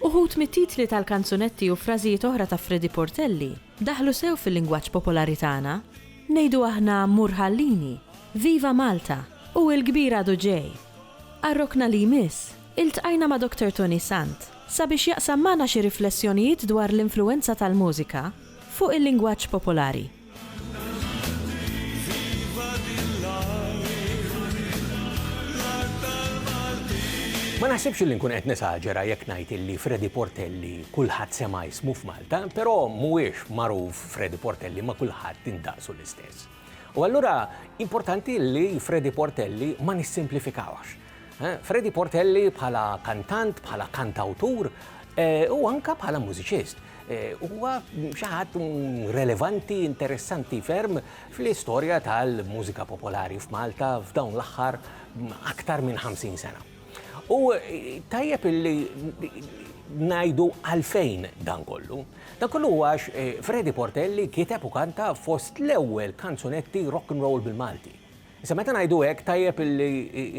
Uħud mit-titli tal-kanzunetti u frażijiet oħra ta' Freddie Portelli daħlu sew fil-lingwaġġ popolari tagħna, ngħidu aħna Mur ħallini, Viva Malta u Il-kbir għadu ġej. Għar-rokna li jmiss, iltqajna ma' Doktor Toni Sant sabiex jaqsam magħna xi riflessjonijiet dwar l-influwenza tal-mużika fuq il-lingwaġġ popolari. Ma naħsibx li nkun qed nesaġera jekk ngħid illi Freddie Portelli kulħadd sema' ismu f'Malta, però mhuwiex magħruf Freddie Portelli ma' kulħadd indaqsu l-istess. U allura importanti li Freddie Portelli ma nissimplifikawhx. Freddie Portelli bħala kantant, bħala kantawtur u anka bħala mużiċist. Huwa xi ħadd relevanti, interessanti ferm fl-istorja tal-mużika popolari f'Malta f'dawn l-aħħar aktar minn 50 sena. U tajjeb illi najdu għalfejn dan kollu. Dan kollu għax eh, Freddy Portelli kiteb u kanta fost l-ewwel kanzunetti rock and roll bil-Malti. Issa meta ngħidu hekk tajjeb li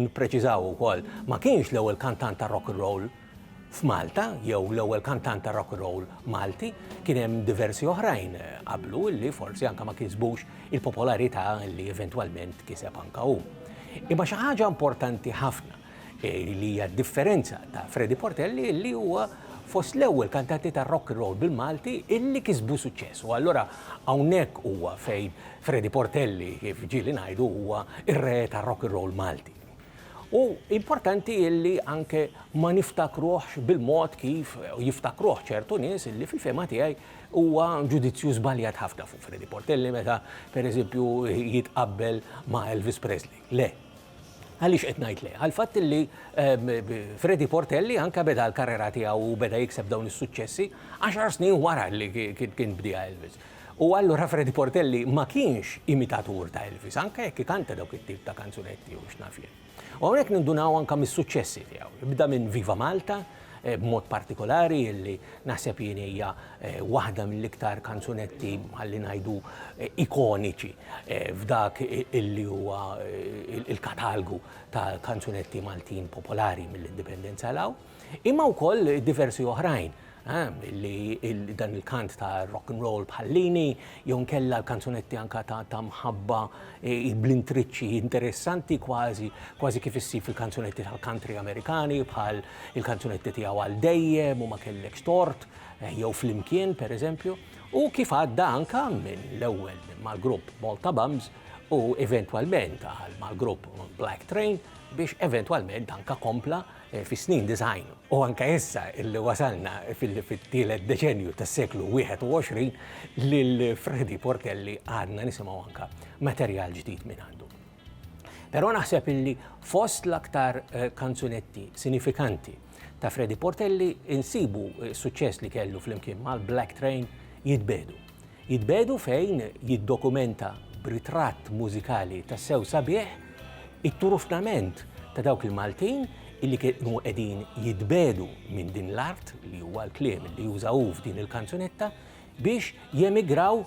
nippreċiżaw ukoll, ma kienx l-ewwel kantant ta' rock 'n' roll f'Malta jew l-ewwel kantant ta' rock 'n' roll Malti, kien hemm diversi oħrajn qablu li forsi anke ma kisbux il-popolarità li eventwalment kiseb anke hu. Imma xi ħaġa importanti ħafna li hija d-differenza ta' Freddy Portelli li huwa fost l-ewwel kantanti ta' rock and roll bil-Malti illi kisbu suċċess. U allura hawnhekk huwa fejn Freddy Portelli kif ġieli ngħidu huwa r-re ta' rock and roll Malti. U importanti illi anke ma niftakruhx bil-mod kif jiftakruh ċertu nies illi fil-fehma tiegħi huwa ġudizzju żbaljat ħafna fuq Freddy Portelli meta pereżempju jitqabbel ma' Elvis Presley. Le, Għaliex qed ngħid le? Għall-fatt li Freddy Portelli anke beda l-karrera tiegħu u beda jikseb dawn is-suċċessi għaxar snin wara li kien bdieha Elvis. U allura Freddy Portelli ma kienx imitatur ta' Elvis, anke jekk ikanta dawk it-tip ta' kanzunetti u x'naf jien. U hawnhekk nindunaw anke mis-suċċessi tiegħu. Ibda minn Viva Malta, b'mod partikolari illi naħseb jien hija waħda mill-iktar kanzunetti ħalli ngħidu ikoniċi f'dak illi huwa il-katalgu ta' kanzunetti Maltin popolari mill-indipendenza law, imma wkoll diversi oħrajn li dan il-kant ta' rock and roll bħallini, jew inkella l-kanzunetti anka ta' ta' mħabba eh, bl-intriċċi interessanti kważi kważi kif issib fil-kanzunetti tal-country Amerikani bħal il-kanzunetti tiegħu għal dejjem u ma kellekx tort eh, jew flimkien pereżempju u kif għadda anka minn l-ewwel mal-grupp Malta Bums u eventwalment għal mal-grupp Black Train biex eventwalment anka kompla Fis-snin disgħin u anke issa illi wasalna fit-tielet deċennju tas-seklu 21, lil Freddie Portelli għadna nisimgħu anke materjal ġdid mingħandu. Però naħseb illi fost l-aktar kanzunetti sinifikanti ta' Freddie Portelli insibu s-suċċess li kellu flimkien mal-Black Train, Jitbiegħdu. Jitbiegħdu fejn jiddokumenta b'ritratt mużikali tassew sabiħ it-turufnament ta' dawk il-Maltin illi kienu qegħdin jitbiegħdu minn din l-art, li huwa l-kliem li juża hu f'din il-kanzunetta, biex jemigraw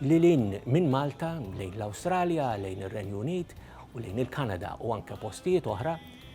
lil hinn minn Malta lejn l-Awstralja, lejn ir-Renju Unit u lejn il-Kanada u anke postijiet oħra,